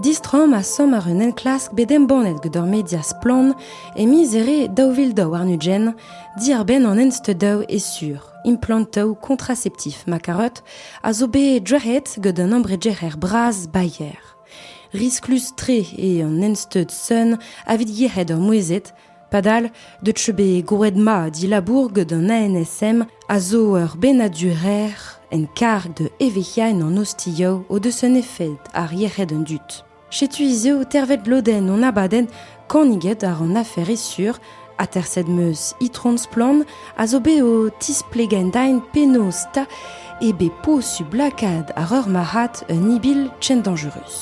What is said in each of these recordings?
Distroomp a-samm àr un enklask bet embannet gant ur media splann e miz Here daou vil daou warn-ugent diàr-benn an ensteudaoù e sur. Implantoù kontraseptif ma karot a zo bet drec'het gant un embregerer bras Bayer. Risklus-tre eo an ensteud sun avit yec'hed ur mouezhet Padal, deut eo bet goret mat he labour gant an ANSM a zo ur bennadur-rer en karg da evezhiañ an ostioù o deus un efed ar yec'hed an dud. Setu hiziv tervet lodenn hon abadenn Kaniget ar an afer sur, aterset meus Itron Splann a zo bet o tisplegain penaos ta e bet posubl lakaat ar ur marc'had un ibil chen dangerus.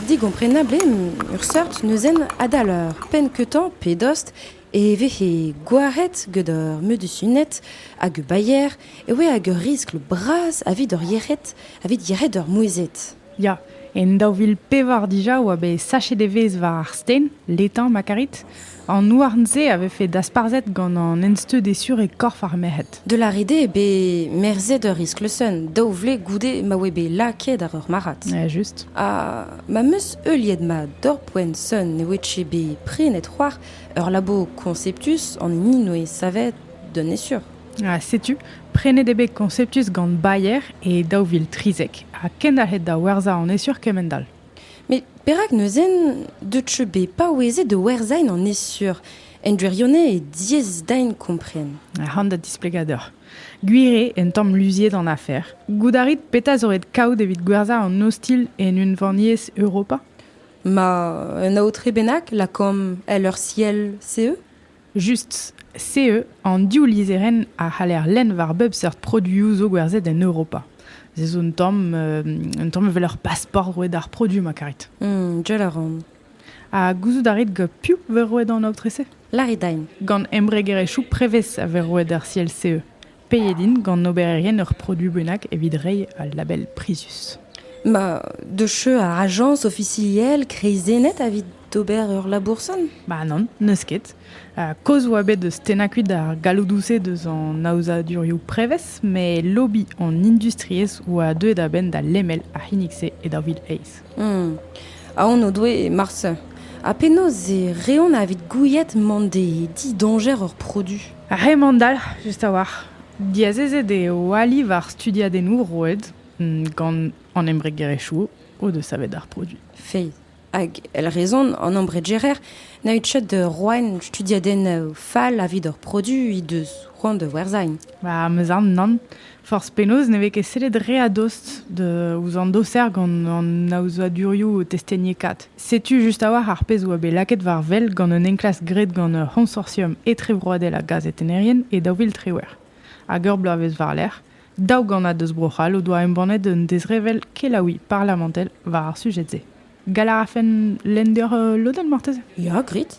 Digomprenabl eo ur seurt neuzenn adal ur penn-keutañ pe dost e vehe gwaret gant ur medusuned hag ur bayer e oe hag ur riskl bras evit hor yec'hed evit yec'hed ur mouezhed. Ya, en daou vil pevar dija oa bet sachet evezh war ar sten, letañ ma karit. An houarn-se a vefe dasparzhet gant an ensteud esur e korf ar merc'hed. De la rede eo bet merzet ur iskleuzsenn daou vlez goude ma oe bet lakaet àr ur marc'had. Ja, just. Ha ma 'm eus heuliet mat doc'h-poent sonn e oe-tche bet prenet c'hoar ur labour konseptus an hini 'noe savet d'un esur. Ha setu, prenet eo bet Conceptus gant Bayer e daou vil trizek ha kendalc'het da werzhañ an esur kement-all. Met perak neuze deuet cheu bet paouezet da werzhañ an esur? En gwirionez e diaes din kompren. An da displegadur. Gwir eo un tamm luziet an afer. Goût a rit petra zo ret kaout evit gwerzhañ an ostilh en unvaniezh Europa? Ma, un aotre bennak, lakaomp, èl ur siell, CE? Just SEE an div lizherenn a c'haller lenn war bep seurt produioù zo gwerzhet en Europa. Se zo un tamm un tamm evel ur pasport roet d'ar produoù ma karit. Jell a ran. Ha gouzout a rit piv vez roet an aotre-se? Larry Dine. Gant embregerezhioù prevez a vez roet ar siell SEE. Peet int gant obererien ur produoù bennak evit reiñ al label prizius? Ma, deus cheu ar ajañs ofisiel kreizennet evit ober ur laboursant? Ba nann, n'eus ket. Kaoz 'oa bet deus tennañ kuit ar galloudoù-se deus an aozadurioù prevez met lobby an industriezh 'oa deuet a-benn da lemel ar c'hinnig-se e daou vil eizh. Aon o doe marse. Ha penaos e reont evit gouiet mont d'e didoñjer ur produ? Ar c'hemandalc'h just a-walc'h. Diazezet eo ali war studiadennoù roet gant an embregerezhioù o deus savet ar produiñ. Feiz. Hag èl rezon an embregerer na out chet da roiñ studiadennoù fall evit hor produiñ he deus c'hoant da werzhañ. Ba 'm eus aon nann. Forzh penaos ne vez ket sellet re a-dost ouzh an doser gant an aozadurioù testeniekaat. Setu just a-walc'h ar pezh a oa bet lakaet war wel gant un enklask graet gant ur c'honsortium etrevroadel a gazetennerien e daou vil triwec'h hag ur bloavezh war-lerc'h, daou gannad eus Bro-C'hall o doa embannet un dezrevell kelaouiñ parlamentel war ar sujed-se. Gall a rafen lenn deoc'h lodenn marteze? Ya, grit.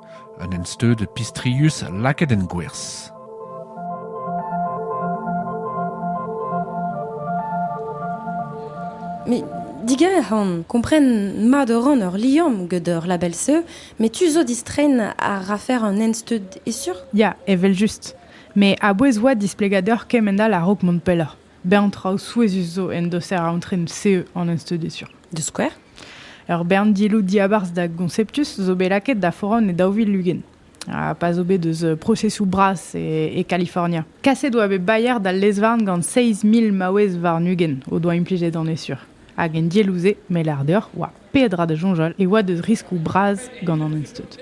Un ensteud pistrius lakaet en gwerzh. Mais diger on, kompren mat a ran ur liamm gant ur label-se, met tu zo distrein a rafer un ensteud esur? Ya, evel-just. Met a-bouez oa displegadur kement all a-raok mont pelloc'h. Bern traoù souezhus zo en doser aotren CE an enstudioù. Da skouer? Ur bern diloù diabarzh da Gonceptus zo bet lakaet da foran e daou vil ugent, ha pa zo bet eus prosesoù bras e, e Kalifornia. Kaset oa bet Bayer d'al lez-varn gant seizh mil maouez warn-ugent o doa implijet an esur. Hag en dielloù-se, me lâr deoc'h, oa peadra da soñjal e oa deus riskloù bras gant an Instud.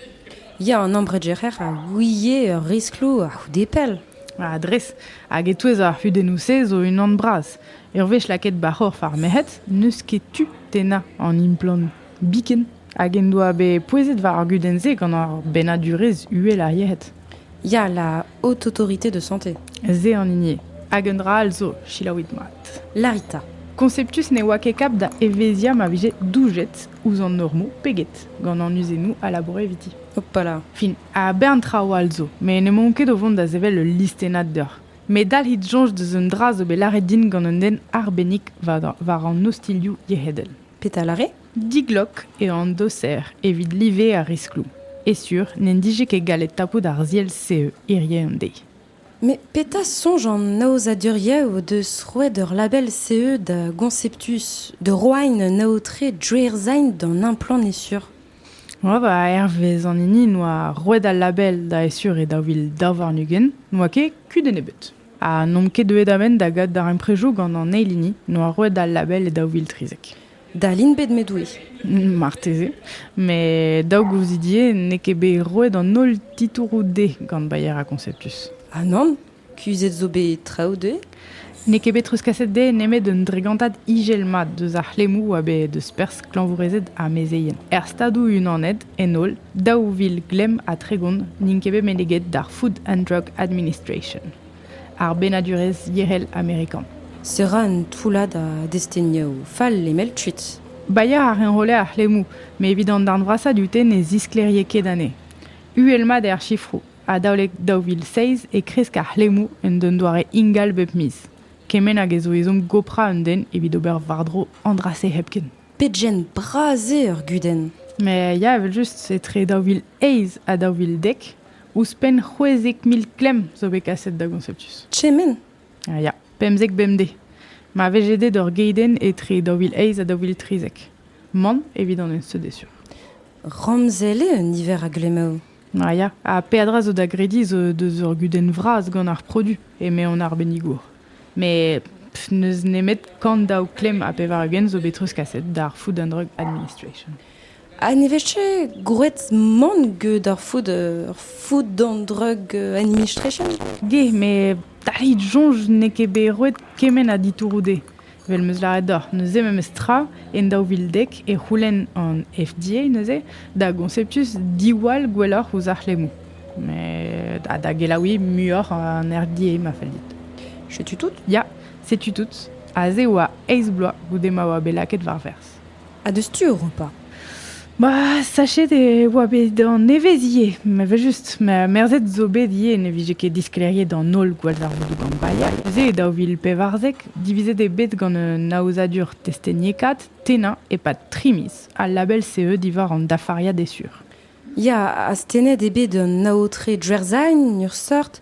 Ya, an ambredjerer a ouie ur riskloù a-c'houde pell. Ah, dres. Hag e-touez ar c'hudennoù-se zo unan bras. Ur wech lakaet ba c'horf ar merc'hed, n'eus ket tu tennañ an implant biken. Hag en doa bet pouezet war ar gudenn-se gant ar bennadurezh uhel ar yec'hed. Ya, la haute autorité de santé. Ze an hini. Hag un dra all zo, selaouit mat. Larita. Conceptus ne oa ket kap da evezhiañ ma vije doujet ouzh an normoù peget gant an uzennoù a laboure eviti. Hopala. Fin, a bern traoù all zo, met n'emaon ket o vont da sevel ul listennad deoc'h. Met dalc'hit soñj deus un dra zo bet lâret din gant un den arbennik war an ostilhoù yec'hedel. Petra a lâre? Diglok eo an doser evit live ar riskloù, e-sur n'en dije ket gallet tapout ar ziell-se hirie-dezhi. Met petra soñj an aozadurioù o deus roet ur label CE da Gonceptus, da roain un aotre drouerzhain d'an implant e-sur? Moa, hervez an hini noa roet al label da e-sur e daou vil daou warn-ugent, noa ket kudenn ebet. Ha n'omp ket deuet a-benn da gavout darempredoù gant an eil hini noa roet al label e daou vil trizek. Dal int bet, met oui. Marteze. Mais daou gouzidie n'eo ket bet roet an holl titouroù dezhe gant Bayer ha Conceptus. Ah nann, kuzhet zo bet traoù dezhe N'eo ket bet treuzkaset dezhe nemet un dregantad ijel mat deus ar c'hlemmoù a bet deus perzh klañvourezed ha mezeien. Er Stadoù-Unanet, en holl, daou vil glemm ha tregont n'int ket bet meneget d'ar Food and Drug Administration. ar bennadurezh yec'hel amerikan. Se ra un toullad a destenioù fall lemel kuit. Bailhañ a enrolle ar c'hlemmoù met evit an darn vrasañ dute ne zisklêrie ket anezhe. Uhel-mat eo ar sifroù. Adalek daou vil seizh e kresk ar c'hlemmoù en un doare ingal bep miz. Kement hag e zo ezhomm goprañ un den evit ober war-dro an dra-se hepken. Pegen bras eo ur gudenn! Met ya, evel-just, etre daou vil eizh ha daou vil dek Ouzhpenn c'hwezek mil klemm zo bet kaset da Gonceptus. Kement ah, Ya, pemzek bemdez. Ma vije bet ur geidenn etre daou vil eizh ha daou vil trizek. Man evit an enseud e sur. Ramzel eo un niver a glemmaoù. Ah, ya, ha peadra zo da grediñ zo deus ur gudenn vras gant ar produ, eme an arbennigour. Mais pff, n'eus nemet kant daou klemm ha pevar-ugent zo bet treuzkaset d'ar Food and Drug Administration. Ha ne vez ket gwraet mann get ar food, ar food and drug administration? Ge, met tac'hit soñj n'eo ket bet roet kement a ditouroù dezhe. Evel 'm eus lâret deoc'h, neuze memes tra, en daou vil dek e c'houlenn an FDA neuze da Gonceptus diwall gwelloc'h ouzh ar c'hlemmoù. Met ha da gelaouiñ muioc'h an RDA ma fell dit. Setu tout? Ya, setu tout. Aze e oa eizh bloaz goude ma oa bet lakaet war-berzh. Ha deus tu Europa Ma sachet e oa bet an evezh ivez, evel-just. Ma merzhet zo bet ivez ne vije ket disklêriet an holl gwallzarvoudoù gambreier. Neuze, e daou vil pevarzek, divizet eo bet gant un aozadur testeniekaat tennañ e-pad tri miz, al label CE diwar an dafariad êsur. Ya, astennet eo bet an aotre Djerzhain, en ur seurt,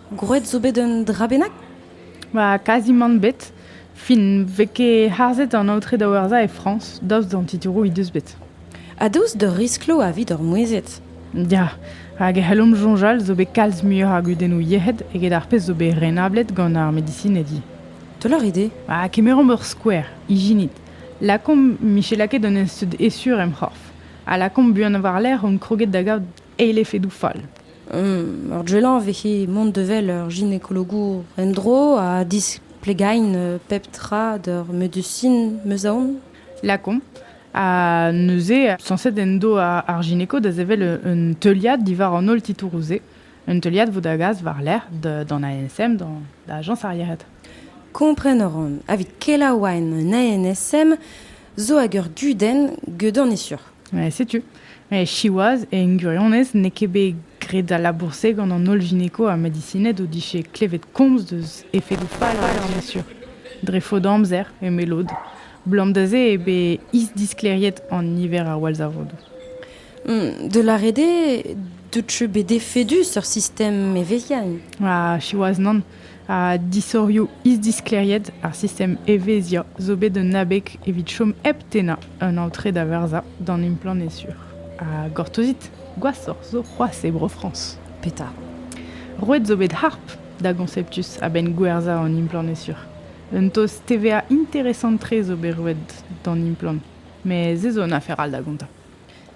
Gwraet zo bet un dra bennak? Ba, kazimant bet. Fin, vez ket harzet an aotre da werzhañ e Frañs, daoust d'an titouroù he deus bet. Ha daoust d'ur risklo evit hor mouezhed? Ya, hag e c'hellomp soñjal zo bet kalz muioc'h a gudennoù yec'hed eget ar pezh zo bet renablet gant ar medisinedi. Toloc'h eo dezhe? Ha kemeromp ur skouer, ijinit. Lakaomp Michela ket d'un ensteud esur em c'horf, ha lakaomp buan war-lerc'h omp kroget da gaout eil efedoù fall. Ur gelañ vehe mont da wel ur ginekologour en-dro ha displegain pep tra d'ur medusin 'm eus aon. Lakaomp. Ha neuze, sañset en do ar gineko da sevel un teuliad diwar an holl titouroù-se. Un teuliad 'vo da gas war-lerc'h d'an ANSM, da ajañs ar yec'hed. Kompren a ran, evit kelaouain un ANSM, zo hag ur dudenn, geudon eo sur. Setu. Siwazh, en gwirionez, n'eo ket bet graet al labour-se gant an holl gynéco ha medisined o dije klevet komz deus efedoù fall ar dañjer dre faot amzer, eme lod. Blam da se eo bet isdisklêriet an niver a wallzarvodoù. De la rede, deut bet efedus ur sistem evezhiañ. Ah, siwazh, nann. ha disorioù isdisklêriet ar sistem evezhiañ zo bet un abeg evit chom hep tennañ un aotre da verzañ d'an implant sur. Ha gortozit, gwashoc'h zo c'hoazh e Bro-Frañs. Petra? Roet zo bet harp da Gonceptus a-benn gwerzhañ an implant sur. Un taos TVA interesant-tre zo bet roet d'an implant, met se zo un afer all da gontañ.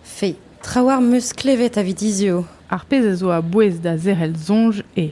Fe, traoù am eus klevet evit hiziv. Ar pezh a zo a-bouez da zerc'hel soñj eo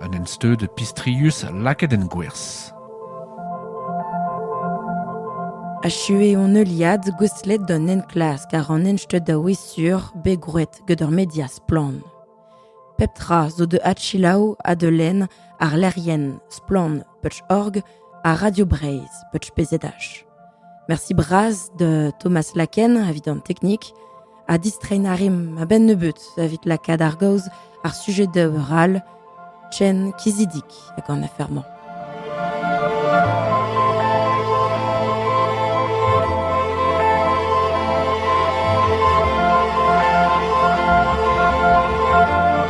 Un ensteud pistrius lakaet en gwerzh. Achuet hon heuliad gouestlet d'an enklask àr an ensteud a-wezh-sur bet gwraet gant ur media splann. Pep tra zo da adselaou ha da lenn àr lec'hienn Splann Peuch.org ha Radio Breizh, Peuch.pz. Merci bras de Thomas Laken evit an teknik ha distrein a rim a-benn nebeut evit lakaat ar gaoz ar sujet de ral Chen Kizidik hag an afermañ.